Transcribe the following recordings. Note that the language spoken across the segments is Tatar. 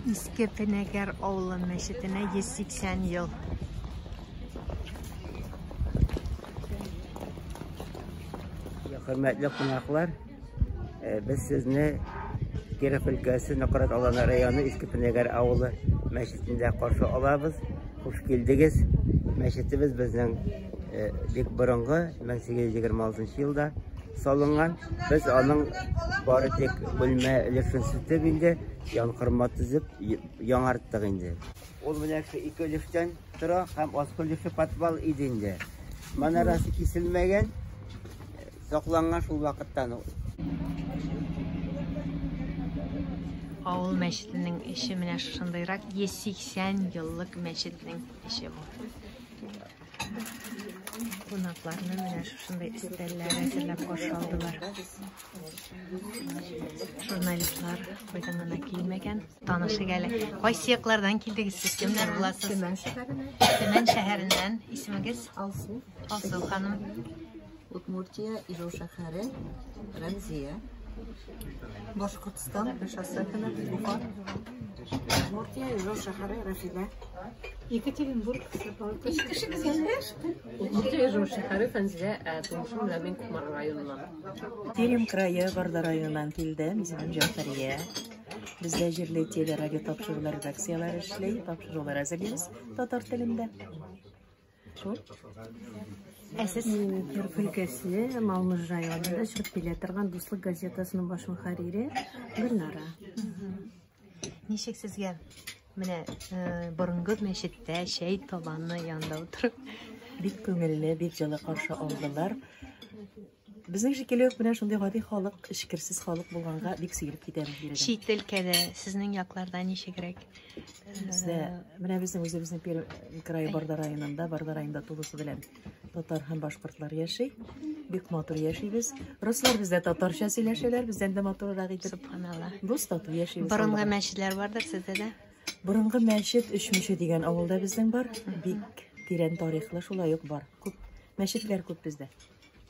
Иске Пенәгәр авылы мәчетенә 180 ел. Хөрмәтле кунаклар, Э, без сезне Киров өлкәсе Нократ Аланы районы Иске Пенегәр авылы мәчетендә каршы алабыз. Хуш килдегез. Мәчетебез безнең э, бик борынгы 1826 елда салынган. Без аның бары тик бүлмә өлешен сүтеп инде, янкырма төзеп яңарттык инде. Ул менә ике өлештән Тора һәм аскольдышы подвал иде инде. Манарасы киселмәгән, сакланган шул вакыттан ул. Авыл мәчетенең эше менә шушындыйрак 180 еллык мәчетнең эше бу. Кунакларны менә шушындай өстәлләр әзерләп каршы алдылар. Журналистлар кайдан гына килмәгән. Танышык әле. Кайсы яклардан килдегез сез? Кемнәр буласыз? Төмән шәһәреннән. Төмән шәһәреннән. Исемегез? Алсу. Алсу ханым. Удмуртия, Ижау шәһәре, Рәмзия. Башкортстан, Шасакина, Бука. Удмуртия, Ижау шәһәре, Рәфидә. Екатеринбург, Сапалка. Удмуртия, Ижау шәһәре, Фәнзилә, ә тумышым Ләмин Кумар районыннан. Пермь крае Барда районыннан килдем. Исемем Җәфәрия. Бездә җирле телерадио тапшырулар редакцияләре эшли, тапшырулар әзерлибез татар телендә. Шул. Ә сез Кер өлкәсе Малмыж районында чыгып килә торган Дуслык газетасының баш мөхәррире Гөлнара. Ничек сезгә менә э, борынгы мәчеттә чәй табаны янында утырып бик күңелле, бик җылы каршы алдылар. Безнең шикелле үк менә шундый гади халык, эчкерсез халык булганга бик сөйлеп китәбез биредә. Чит өлкәдә сезнең якларда ничегрәк? Бездә менә безнең үзебезнең Пермь крае Барда районында, Барда районында тулысы белән Татар һәм башкортлар яши. Бик матур яшибез. Руслар бездә татарча сөйләшәләр, бездән дә матуррак итеп. Субханалла. Дус тату яшибез. Борынгы аллага. мәчетләр бардыр сездә дә? Борынгы мәчет Өчмеше дигән авылда безнең бар. Бик тирән тарихлы шулай ук бар. Күп мәчетләр күп бездә.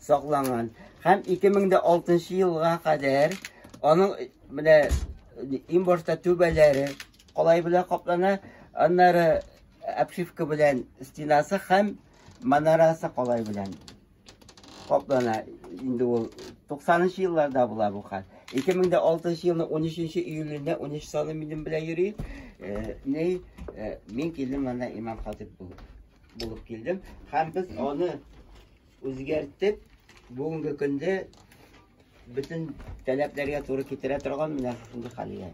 сакланган һәм 2006 елга кадәр аның менә иң башта түбәләре калай белән каплана, аннары обшивка белән стенасы һәм манарасы калай белән каплана. Инде ул 90 елларда була бу хат. 2006 елның 13 июлендә 13 саны минем белән йөри. Э, не э, мин килдем анда имам хатип булып килдем. Һәм без аны Үзгәртеп, бүгенге көндә бөтен таләпләргә туры китерә торган менә шушындый хәлгә.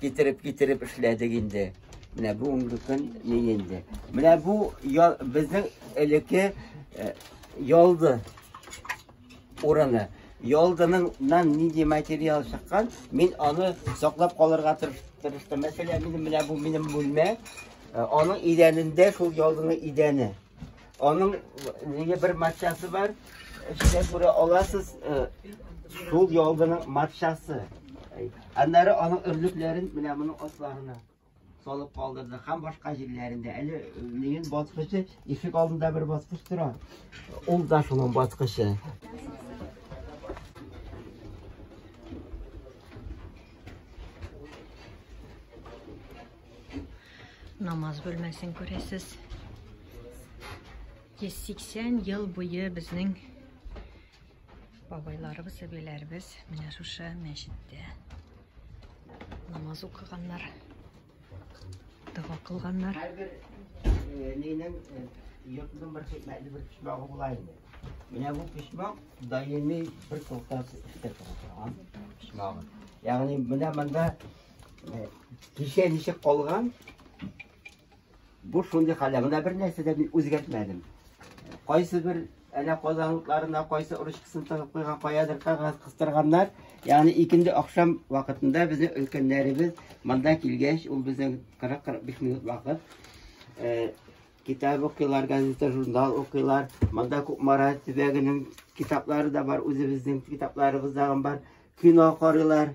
Китереп, китереп эшләдек инде. Менә бүгенге көн ни инде. Менә бу безнең элекке ялды. урыны. Ялдыныңнан нинди материал чыккан, мин аны саклап калырга тырыштым. Мәсәлән, минем менә бу минем бүлмә, э, аның идәнендә шул ялдының идәне. Аның нигә бер матчасы бар, эчтә күрә аласыз, э, шул ялдының матчасы. Аннары аның өрлекләрен менә моның асларына. салып калдырды һәм башка җирләрендә әле минем баскычы ишек алдында бер баскыч тора ул да шуның баскычы намаз бүлмәсен күрәсез 180 ел буе безнең Бабайларыбыз, әбиләребез менә шушы мәчеттә намаз укыганнар, дога кылганнар. Һәрбер э, нинең э, йортның бер хикмәтле бер почмагы була инде. Менә бу почмак даими бер токтаз эштә тора торган почмагы. Ягъни менә монда э, кичә ничек калган Бу шундый хәлләр. Монда бер нәрсә дә мин үзгәртмәдем. Кайсы бер әле казанлыкларына кайсы ручкасын тыгып куйган, каядыр кагаз кыстырганнар. Ягъни икенде ахшам вакытында безнең өлкәннәребез монда килгәч, ул безнең 40-45 минут вакыт э, китап укыйлар, газета, журнал укыйлар. Монда Кукмара төбәгенең китаплары да бар, үзебезнең китапларыбыз да бар. Кино карыйлар.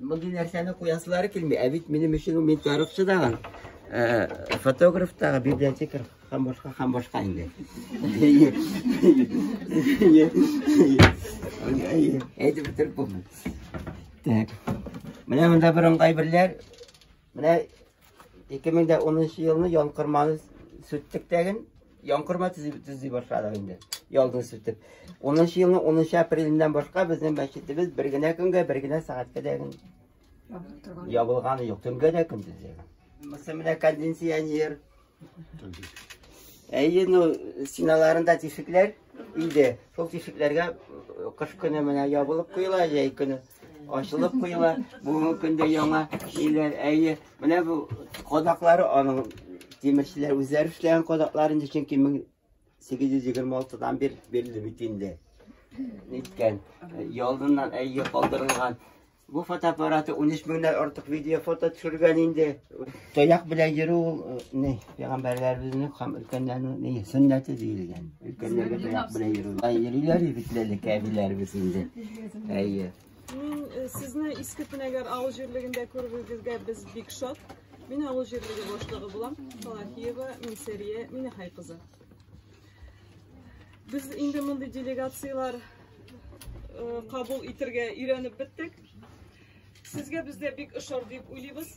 Мондый нәрсәне куясылары килми, ә бит минем өчен ул мин тарихчы дагы, э, фотограф дагы, библиотекарь һәм башка һәм башка инде. Әйтеп бетереп булмый. Так. Менә монда бер ыңгай берләр. Менә Ике мең дә унынчы елны янкырманы сүттек тәген, янкырма төзи башладык инде, ялдын сүтеп. Унынчы елны унынчы апреленнән башка безнең мәчетебез бер генә көнгә, бер генә сәгатькә дәген ябылганы юк, төнгә дә көндез дә. Мөселмана кондиционер, Әйе, ну, стеналарында тишекләр иде. Шул тишекләргә кыш көне менә ябылып куела, җәй көне ачылып куела. Бүгенге көндә яңа өйләр, әйе, менә бу кадаклары аның тимерчеләр үзләре эшләгән кадаклар инде, чөнки 826-дан бир бирелде бит инде. Ниткән, ялдыннан әйе калдырылган. Бу фотоаппараты 13 меңнән артык видео фото төшергән инде. Таяк белән йөрү ул э, ни, пәйгамбәрләребезнең һәм өлкәннәрнең ни сөннәте диелгән. Өлкәннәргә таяк белән йөрү. Ай йөриләр бит ләле кәбиләребез инде. Әйе. Мин э, сезне Иске Пенәгәр авыл җирлегендә күрүегезгә без бик шат. Мин авыл җирлеге башлыгы булам. Салахиева Минсәрия Минехай кызы. Без инде мондый делегацияләр э, кабул итергә өйрәнеп беттек. Сезгә бездә бик ошар дип уйлыйбыз.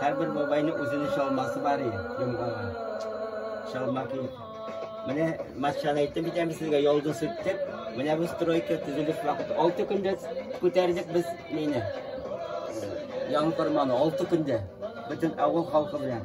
Һәрбер бабайның үзенең чалмасы бар и, йомгага. Чалма киеп. Менә матчаны әйтеп битәм сезгә, ялды сүттек. Менә бу стройка төзелеш вакыты. Алты көндә күтәрдек без мине. Яңы корманы, алты көндә. Бөтен авыл халкы белән.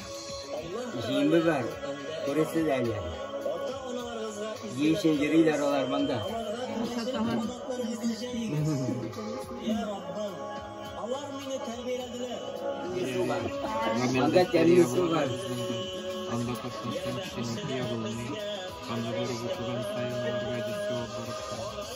Җиеме бар, күресез әле. Җиешен йөриләр алар монда. Анда тәмле су бар. Анда катнашкан кешенең ягылмый. Анда барып утырган каеннарга җитә барып.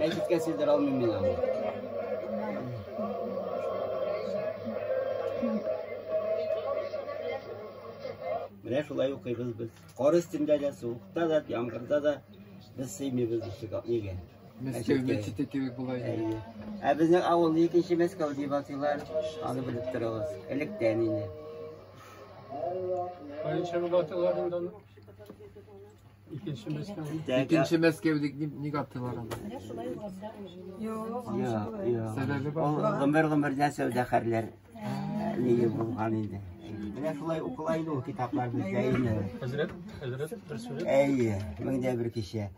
Мәчеткә сыйдыра алмыйм мин аны. Менә шулай укыйбыз без. Кар өстендә дә, суыкта да, яңгырда да без сыймыйбыз ишек нигә. Мәскәү мәчете кебек була инде. Ә безнең авылны икенче Мәскәү дип атыйлар. Аны белеп торыгыз. Электән инде. Кайынча булып атыйлар инде аны. Икенче Мәскәү. Икенче Мәскәү дип ни- ник атыйлар аны? Юк, юк. Сәбәбе бар. Ул гомер-гомердән сәүдәгәрләр Нигә булган инде? Менә шулай укыла инде ул китаплар бездә инде. Хәзрәт, хәзрәт бер сүз. Әйе, меңдә бер кичә.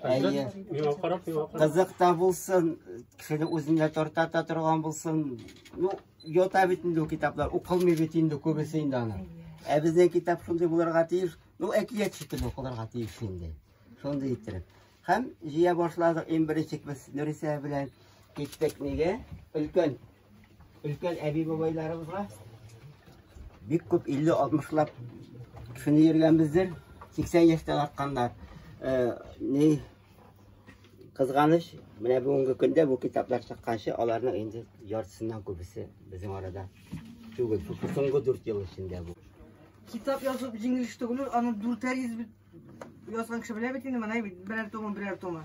Әйе. Миңа карап, миңа карап. Кызык та булсын, кешене үзендә тартата торган булсын. Ну, йота бит инде ул китаплар, укылмый бит инде күбесе инде аны. Ә безнең китап шундый булырга тиеш. Ну, әкият шикелле укылырга тиеш инде. Шундый иттереп. Һәм җыя башладык иң беренче без Нурисә белән киттек нигә? Өлкән Өлкән әби-бабайларыбызга бик күп 50-60лап кешене йөргәнбездер. 80 яшьтән артканнар. Э, ни кызганыч, менә бүгенге көндә бу китаплар чыкканчы аларның инде яртысыннан күбесе безнең арада түгел. Соңгы 4 ел эчендә бу. Китап язып җиңелеш түгел, аны дүртәр йөз Язган кеше белә бит инде, менә бит берәр томы, берәр томы.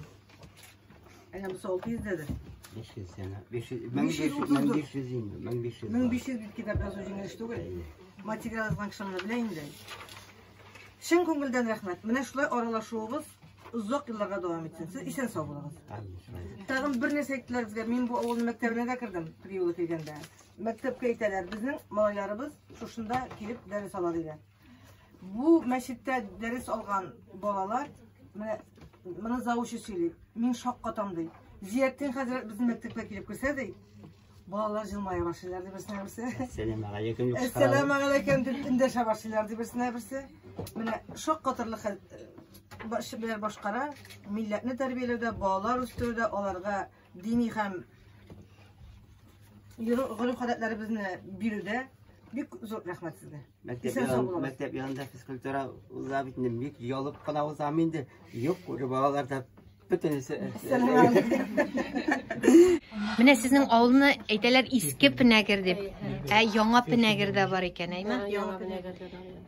Әнә бу 600 дәде. 500 сәнә. 500, 1500, 1500 инде, 1500. 1500 бит китап язу җиңел эш түгел. Материал язган кеше моны белә инде. Чын күңелдән рәхмәт. Менә шулай аралашуыбыз озак елларга дәвам итсен. Сез исән сау булыгыз. Тагын бер нәрсә әйттеләр безгә. Мин бу авылның мәктәбенә дә кердем, приюлы килгәндә. Мәктәпкә әйтәләр, безнең малайларыбыз шушында килеп дәрес ала дигән. Бу мәчеттә дәрес алган балалар, менә моны завучы сөйли, мин шаккатам ди. Зияттин хәзрәт безнең мәктәпкә килеп керсә ди, балалар җылмая башлыйлар ди берсенә берсе. Әссәламу алейкум дип чыгаралар. Әссәламу алейкум дип эндәшә башлыйлар ди берсенә берсе. Менә шаккатырлык хәл башкара, милләтне тәрбияләүдә, балалар үстерүдә аларга дини һәм гореф-гадәтләребезне бирүдә бик зур рәхмәт сезгә. Мәктәп янында физкультура уза бит инде, бик ялып кына узам инде. Юк, күреп балалар да бөтенесе. Менә сезнең авылны әйтәләр иске пенәгер дип. Ә яңа пенәгер дә бар икән, әйме? Яңа пенәгер дә бар.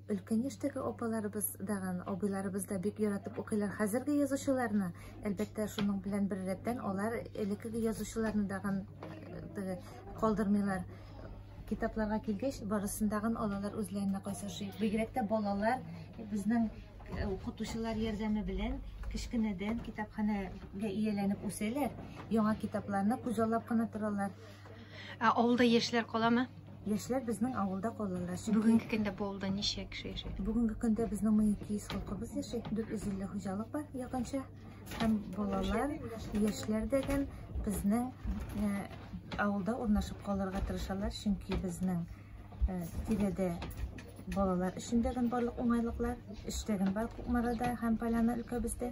Өлкән яшьтәге апаларыбыз даган, абыйларыбыз да бик яратып укыйлар хәзерге язучыларны. Әлбәттә, шуның белән бер рәттән алар элеккеге язучыларны даган э, калдырмыйлар. Китапларга килгәч, барысын даган алалар үзләренә кайсы ошый. Бигрәк тә балалар безнең э, укытучылар ярдәме белән кечкенәдән китапханәгә ияләнеп үсәләр, яңа китапларны күзаллап кына торалар. Ә авылда яшьләр каламы? Яшьләр безнең авылда калалар. Чөнки Бүгенге көндә бу авылда ничә кеше яши? бүгенге көндә безнең 1200 халкыбыз яши. 450 хуҗалык бар якынча. Һәм балалар, яшьләр дигән безнең э, авылда урнашып калырга тырышалар, чөнки безнең э, тирәдә балалар өчен дигән барлык уңайлыклар, эштәген бар Кукмарада һәм Поляна өлкәбездә.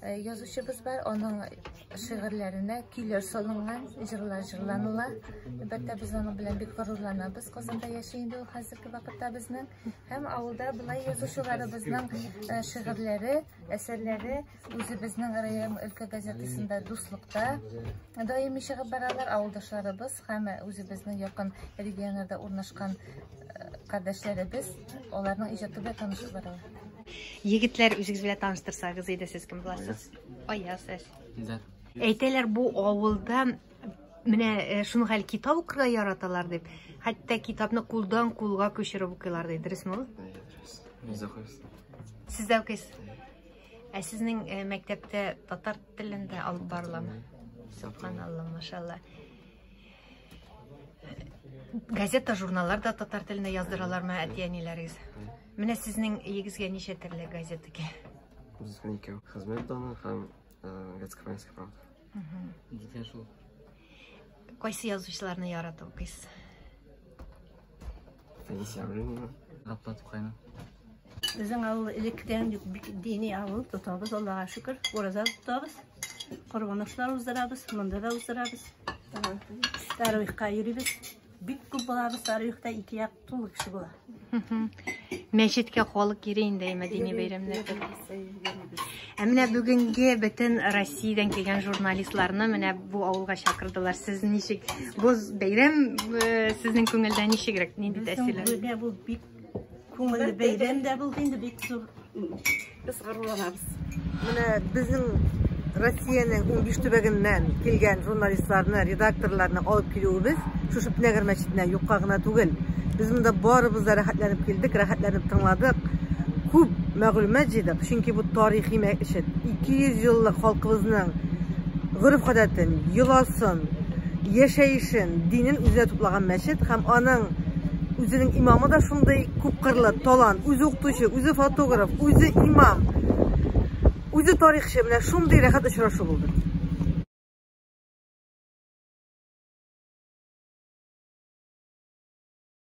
Э, язучыбыз бар, оның шигырьләренә көйләр салынган, җырлар җырланыла. Әлбәттә, без аның белән бик горурланабыз. Казанда яши инде ул хәзерге вакытта безнең һәм авылда былай язучыларыбызның э, шигырьләре, әсәрләре үзебезнең район өлкә газетасында дуслыкта даими чыгып баралар, авылдашларыбыз һәм үзебезнең якын регионнарда урнашкан кардәшләребез, аларның иҗаты белән танышып баралар. Егетләр, үзегез белән таныштырсагыз иде, сез кем буласыз? Аяз, сез. Илдар. Әйтәләр, бу авылда менә э, шуның хәл китап укырга яраталар дип, хәтта китапны кулдан кулга күчереп укыйлар ди, дөресме ул? Сез дә укыйсыз? Ә сезнең э, мәктәптә татар телендә алып барыламы? Субханалла, машалла. Газета, журналлар да татар телендә яздыралармы әти-әниләрегез? Менә сезнең егезгә ничә төрле газета ки? Безгә икәү. Хезмәт даны һәм Гацкаванская э, правда. Дитя шул. Кайсы язучыларны ярату укыйсыз? Безнең авыл элеккедән үк бик дини авыл, тотабыз, Аллага шөкер, ураза тотабыз, корбаношлар уздырабыз, монда да уздырабыз. Таруихка йөрибез. Бик күп булабыз Таруихта, ике як тулы кеше була. Мәчеткә халык йөри инде мәдәни бәйрәмнәрдә. Ә менә бүгенге бөтен Россиядән килгән журналистларны менә бу авылга чакырдылар. Сез ничек бу бәйрәм э, сезнең күңелдә ничегрәк? Нинди тәэсирләр? Бүгенге бу бик күңелле бәйрәм дә булды инде бик зур. Без горурланабыз. Менә безнең Россиянең 15 төбәгеннән килгән журналистларны, редакторларны алып килүебез шушы Пнегр мәчетенә юкка гына түгел. Без монда барыбыз да рәхәтләнеп килдек, рәхәтләнеп тыңладык. Күп мәгълүмат җыйдык, чөнки бу тарихи мәчет 200 еллык халкыбызның гореф-гадәтен, йоласын, яшәешен, динен үзенә туплаган мәчет һәм аның үзенең имамы да шундый күпкырлы талант, үзе укытучы, үзе фотограф, үзе имам, үзе тарихчы, менә шундый рәхәт очрашу булды.